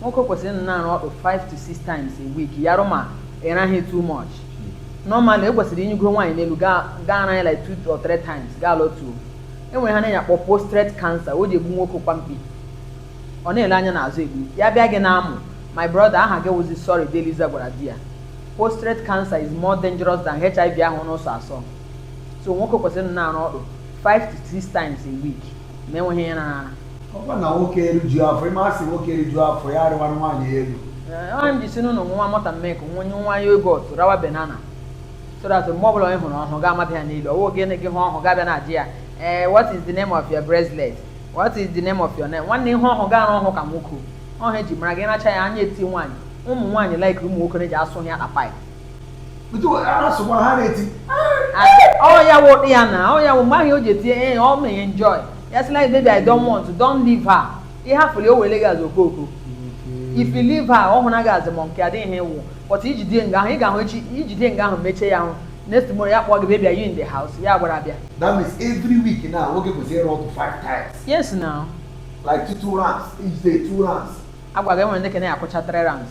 nwoke kwesịrị ịnọ na-ara ọtụ 5 to 6 times a week ya wụrụ ma ịraghị too much normally i kwesịrị inyigo nwaanyị n'elu gị gị ara ya like 2 or 3 times gị alọtuo enwere ihe a na-enye akpọ postrate cancer o ji egbu nwoke kwa mkpi ọ na-ele anya n'azụ egbu ya bịa gị na-amụ my brother aha gị wụzi sorry deliza gwara di ya postrate cancer is more dangerous than hiv ahụ na-asọ asọ so nwoke kwesịrị ịnọ na-ara ọtụ 5 to 6 times a week ma enweghị ihe na ọkwa na nwoke eriju afọ ịma asị nwoke eriju afọ ya arịwa nwaanyị elu ọ wụ ihe m ji sị ṅụọ nwa malt na milk nwa ihe nwa yogurt rawa banana so that mgbe ọbụla onye hụrụ ọhụ ga-amata ya n'elu ọ wụghị gị hụ ọhụ gị abịa na-ajụ ya ee eh, what is the name of your bracelet what is the name of your name nwanne ị hụ ọhụ gị ara ọhụ ka nwoke ọ wụ ihe eji mara gị racha ya anya eti nwaanyị ụmụ nwaanyị like ụmụ nwoke na-eji asụ ya akpa ọ ya wụ ya na ọ ya wụ mgbe ahụ o ji etinye ya eh, ọ ma ya enjoy ya sị like baby i don't want don't leave her ị hafụrụ o were gị azụ ọkụkọ if you leave her ọ hụna gị azụ ma nke adịghị wụ but ijide nga ahụ ị ga-ahụ echi ijide nga ahụ mechie ya ahụ next tomorrow ya kpọọ gị baby are you in the house ya agbara bịa that means every week now nwoke kwesịrị ịra ọtụ five times yes now like two rounds each day two rounds agwa gị enwere ndị ka na-akụcha three rounds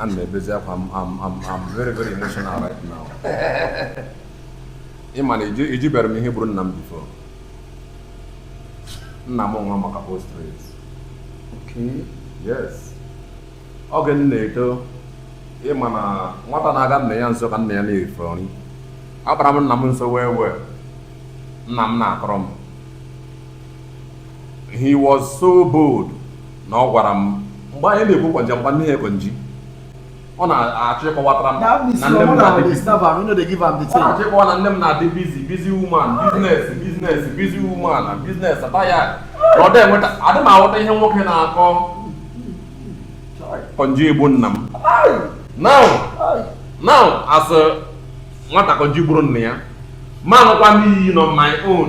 ana m ebezi akwa I'm I'm I'm very very emotional right now ị ma na ị jụ ị jụberọ m ihe gburu nna m before nna m nwụrụ maka postrate Okay. yes oge m na-eto ị ma na nwata na-aga nna ya nso ka nna ya na-efe nri akpara m nna m nso well well nna m na-akọrọ m he was so bold na ọ gwara m mgbe anyị na-ekwu konji nwanne ya konji ọ na-achọ ịkọwatara m na nne m na-adị busy. Ọ na-achọ ịkọwa na nne m na-adị busy busy woman business business busy woman na business ata ya na ọ dị enweta adị m aghọta ihe nwoke na-akọ konji egbu nna m now now as a nwata konji gburu nna ya mụ anwụkwa n'iyi no my own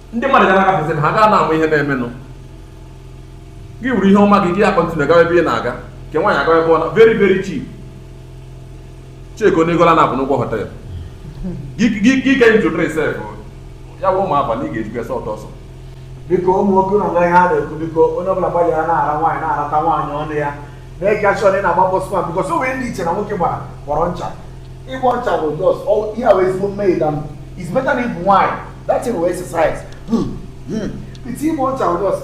ndị mmadụ ga na-agafezi ha gaa na-ama ihe na-emenụ gị wuru ihe ọma gị gị a-continue gawa ebe ị na-aga nke nwaanyị agawa ebe ọ na very very cheap checkie ọnụ ego ole na-abụ n'ụgwọ hotel gị ke ntụtụrụ sef ya wụrụ ụmụ abalị ị ga-ejikwa sọ ọtọ ọsọ biko ụmụ nwoke nọ nga ihe a na-ekwu biko onye ọbụla gbalịa na-ara nwaanyị na-arata nwaanyị ọnụ ya na-eke achọ na ị na-agba bọsụma because o nwere ndị chere na nwoke gbara gbọrọ ncha ịgbọ ncha bụ just ihe a wụ ezigbo mmehie than it's better na ịbụ nwaanyị that thing wụ exercise by time ịgba ọcha ọjọs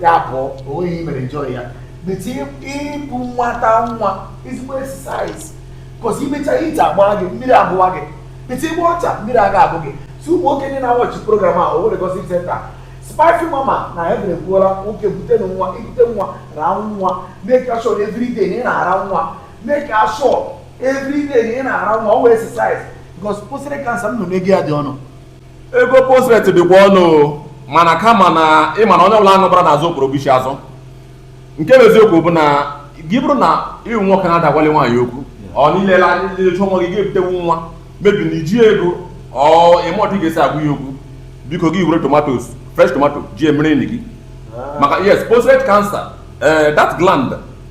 ya bụ onweghị ihe mere enjoy ya by time ịbụ nwata nwa ezigbo exercise cause imecha ite agba gị mmiri abụwa gị by time ịgba ọcha mmiri aga abụ gị so ụmụ nwoke ndị na-awọchi program a Owerri gossip center spicy mama na ya bere kwuola nwoke bute nwa ibute nwa raa nwa make sure everyday na ị na-ara nwa make sure every day na ị na-ara nwa ọ wụ exercise because prostate cancer m na ego ya dị ọnụ ego prostate dịkwa ọnụ o, mana kama na ịma na onye ọbụla aṅụbara n'azụ okporo bụ ishi azụ nke bụ eziokwu bụ na gị bụrụ na ịwụ nwoke na-adịghị agwali nwaanyị okwu ọ nilela chụọ nwa gị ga-ebutewu nwa maybe na iji ego ọ ịma otu ị ga-esi agwa ya okwu biko gị were tomatoes fresh tomato ji emere enyi gị maka yes prostate cancer eh, that gland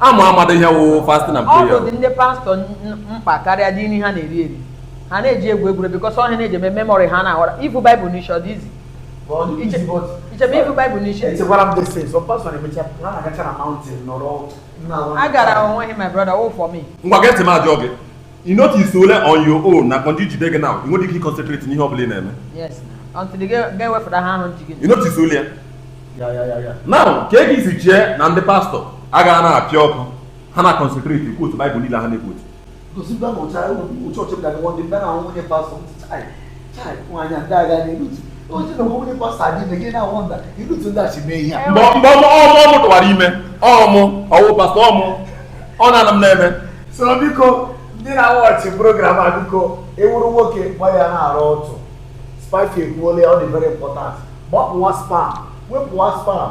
amụ amada ihe wụ fasting and prayer ọ dị ndị pastọ mkpa karịa dị nri ha na-eri eri ha na-eji egwu egwure bikọs ọ ihe ha na-eji eme memori ha na-aghọrọ ivu baịbụl n'isi ọ dị easy i chere ivu baịbụl n'isi a gara onweghị my brother wụ for me ngwa gee ntị m ajụọ gị ị notice ole on your own na kọnji jide gị na ị nweghị ike ịconcentrate n'ihe ọ bụla ị na-eme yes until ị ga-ewepụta ihe ahụ ji gị ị notice ole ya now ka ị ga-esi chee na ndị pastọ agaghị na-apịa ọkụ ha na concentrate ịquote baịbụl niile ha na-equote mgbe ọ mụ tụwara ime ọ mụ ọ wụ pastọ ọ mụ ọ na-ana m na-eme so biko ndị na-awọchị program a biko ị wụrụ nwoke gbalịa na-ara ọtụ spicy ekwuola ya ọ dị very important gbapụwa sperm wepụwa sperm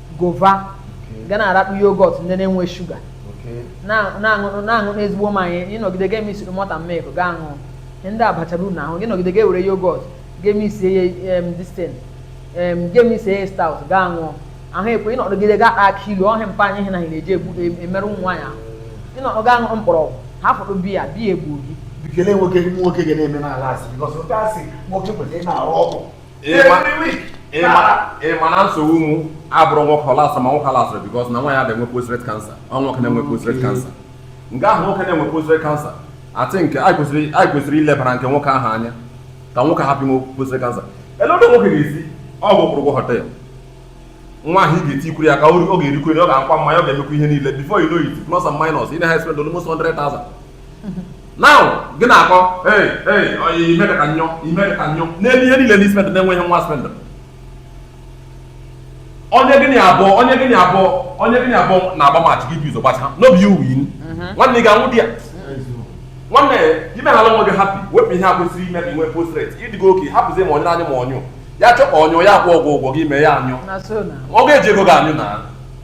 gova ga na-arakpụ yogọt ndị na-enwe shuga na-aṅụ ezigbo mmanya ịnọgide ga emix malt na milk ga aṅụ ndị abachara uru n'ahụ gị nọgide ga ewere yogọt ga emix ya distin ga emix ya stout ga aṅụ ahụ ekwe ịnọgide ga ata akị ilu ọ ihe mpa anyị na na-eji e, emerụ ụmụ nwaanyị ahụ ị nọrọ ga aṅụ mkpọrọgwụ hafụdị biya biya egbuo gị bikele nwoke nwoke ga na-eme na-alasị bikọs okay asị nwoke kwesịrị na-aṅụ ọgwụ ịma na nsogbu mụ abụghị nwoke ịlasị ma nwoke alasịghị bikos na nwaanyị adịghị enwe prostate cancer ọ nwoke na-enwe prostate cancer nke ahụ nwoke na-enwe prostate cancer I think anyị kwesịrị ilebara nke nwoke ahụ anya ka nwoke hapụ inwe prostate cancer elee otu nwoke ga-esi ọ bụ kwụrụ ụgwọ họtel nwa ahụ ị ga-eti ikwuru ya ka ọ ga-erikwu ọ ga-aṅụkwa mmanya ọ ga-emekwa ihe niile before you know it plus and minus ị na-aspend almost 100,000 now gị na-akọ hey hey oyi ime ka nyụ ime ka nyụ n'elu ihe niile ndị spend na-enweghị nwa spend onye gịnị abụọ onye gịnị abụọ onye gịnị abụọ na-agba mach gị bizo gbacha n'obi iwu yin nwanne ị ga-anwụ di ya nwanne ime ha nwe gị hapi wepụ ihe a kwesịrị ime ka inwe postret ịdịgo oke hapụzie ma onye anyị ma ọnyụ ya chọkwa ọnyụ ya akwụ ọgwụ ụgwọ gị mee ya anyụ na so na ọ ga-eji ego gị anyụ na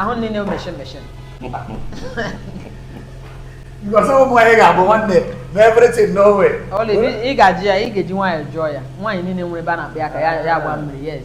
ahụ niile meshin meshin because ụmụ nwaanyị ga-abụ nwanne na everything no way. ị ga-ajụ ya ị ga-eji nwayọọ jụọ ya nwaanyị niile nwere ebe a na-akpa ya aka ya agba mmiri yes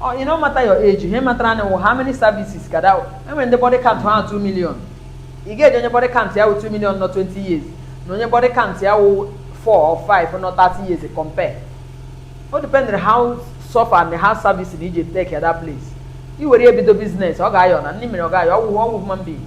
Oh, e no matter your age, ihe matter na how many services ka that e nwere ndị body count ha 2 million. Ị ga-eji onye body count ya wụ 2 million nọ 20 years na onye body count ya wụ 4 or 5 nọ 30 years compare. O depend how suffer and how service na-eji take at that place. I were ya bido business, ọ ga-ayọ na ndị mere ọ ga-ayọ ọ wụ ọ wụ human being.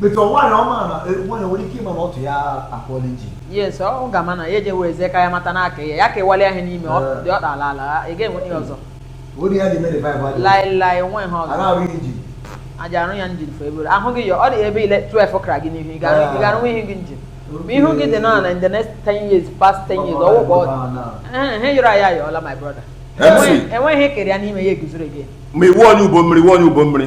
But nwanyị ọ ma na e, nwanyị nwere ike ịma na ọtụ ya akụọla engine. Yes, ọ ga-ama na ya ejewe eze ka ya mata na aka ya ya ka ịwalị ahịa n'ime ọ dị ọ dala ala ị ga-enwe ihe ọzọ. Ori ya dị mere vibe adị. Laị laị enweghị ihe ọzọ. A ga-arụ engine. A ja-arụ ya engine for ebee. Ahụ gị ya ọ dị ebe ile 12 kara gị n'ihu ị ga-arụnwu ihu gị engine. Ma ihu gị dị na in the next 10 years past 10 years ọ wụ ka ọ dị. Ihe yọrọ ayọ ayọọla my brother. Enweghị kere ya n'ime ya eguzoro gị. ma ị wụ onye ugbo mmiri ị wụ onye ugbo mmiri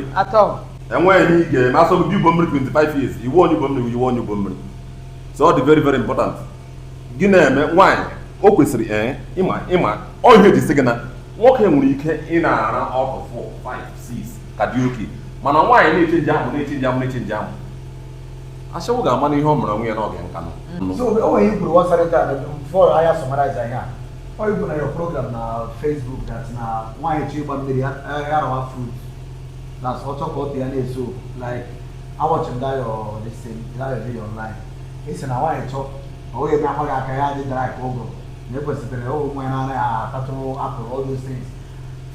enweghị ihe ị ga-eme asọ gị ugbo mmiri 25 years ị wụ onye ugbo mmiri ị wụ onye ugbo mmiri so ọ dị very very important gị na-eme nwaanyị o kwesịrị ee eh, ịma ịma ọ ihe a e ji sị gị na nwoke nwere ike ị na-ara ọtụ 4 5 6 ka dị okay mana nwaanyị na-echenji amụ na-echenji amụ na-echenji amụ ashawo ga-ama na ihe o mere onwe ya n'oge nka nọ Ọ bụ na your program na Facebook that na nwaanyị chọọ ịgba mmiri ya rawa fruit na ọ chọọ ka ọtụ ya na-eso like a watch m that your this thing that your video online ị sị na nwaanyị chọọ ọ wụghị eme akpa gị aka ya dị draw ka ọgbọnọ ekwesịrị ụmụ nwaanyị na-anaghị atatụ apple all those things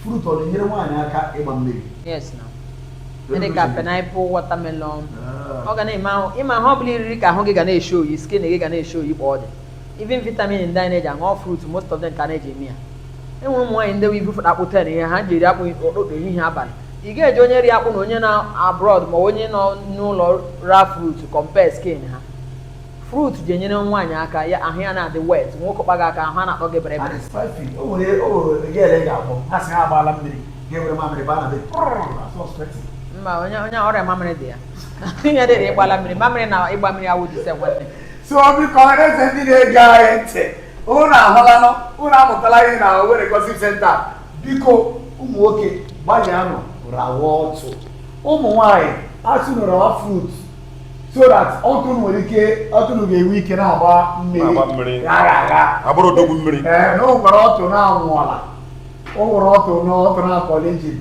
fruit ọ na-enyere nwaanyị aka ịgba mmiri yes na ndị ka pineapple watermelon ọ ga na-eme ahụ ịma ihe ọ bụla i riri ka ahụ gị ga na-eshow skin gị ga na-eshow kpa ọ dị even vitamin ndị anyị na-eji aṅụ fruit most of them ka na-eji eme ya e nwere ụmụ nwaanyị ndị ibu fụta akpụ ten ihe ha ji eri akpụ ụtụtụ ehihie abalị ị ga-eji onye ri akpụ na onye nọ abroad ma onye nọ n'ụlọ ra fruit compare skin ha fruit ji enyere nwaanyị aka ya ahụ ya na-adị wet nwoke kpaa gị aka ahụ a na-akpọ gị bere bere mba ọ nyụọrọ ya mamịrị there ihe dịrị ị gbala mmiri mamịrị na ịgba mmiri awụghị the same nwanne so biko ọhaneze ndị na-ege anyị ntị unu ahụlanụ unu amụtala ihe na Owerri Gossip Center biko ụmụ nwoke gbalịanụ rawa ọtụ ụmụ nwanyị a sị unu rawa fruit so that ọtụ unu nwere ike ọtụ unu ga-enwe ike na-agba mmiri ghara agha abụrụ odogwu mmiri ee na o nwere ọtụ na-anwụọla o nwere ọtụ na ọtụ nọkụọla engine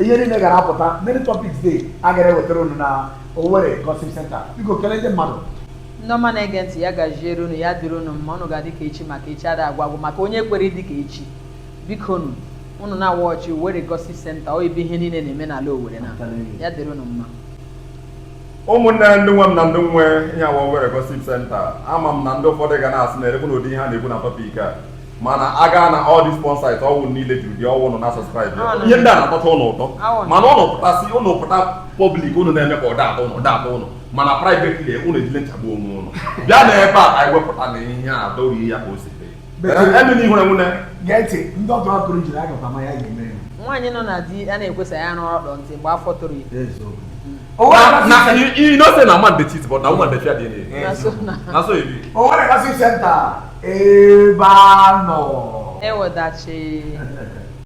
ihe niile gara apụta many topics dey a gara ewetara unu na Owerri Gossip Center biko kelee ndị mmadụ ndị ọma na-ege ntị ya gaziere unu ya dịrị unu mma unu ga-adị ka echi maka echi ada agwụ agwụ maka onye kwere ịdị ka echi bikonu unu na-awọchị Owerri Gossip Center ọ ebe ihe niile na-eme n'ala Owerri na ya dịrị unu mma ụmụnne ndị nwe m na ndị nwe ihe a wụ Owerri Gossip Center ama m na ndị ụfọdụ ga na-asị na erekwu na ụdị ihe a na-ekwu na topic a mana a gaa na all these porn sites ọ wụ ụnụ niile juru dị ọ wụ ụnụ na subscribe ya. ihe ndị a na-atọcha ụnụ ụtọ mana ụnụ pụtasị ụnụ pụta public ụnụ na-eme ka ọ da atọ ụnụ ọ da atọ ụnụ mana privately ụnụ ejile ncha gbuo onwe ụnụ bịa na ebe a ka anyị wepụta na ihe a dọghị ya ka o si dị emena ihu enwune gee ntị ndị ọtọ akụrụ jiri aka pama ya ga-eme ya nwaanyị nọ na di a na-ekwesa ya n'ọrụ ọdọ ntị mgbe afọ toro ya eziokwu na na you you know say na man dey cheat but na woman dey fear DNA na so na na so e be. Owerri Gossip Center ebe a nọ. Ewedachi.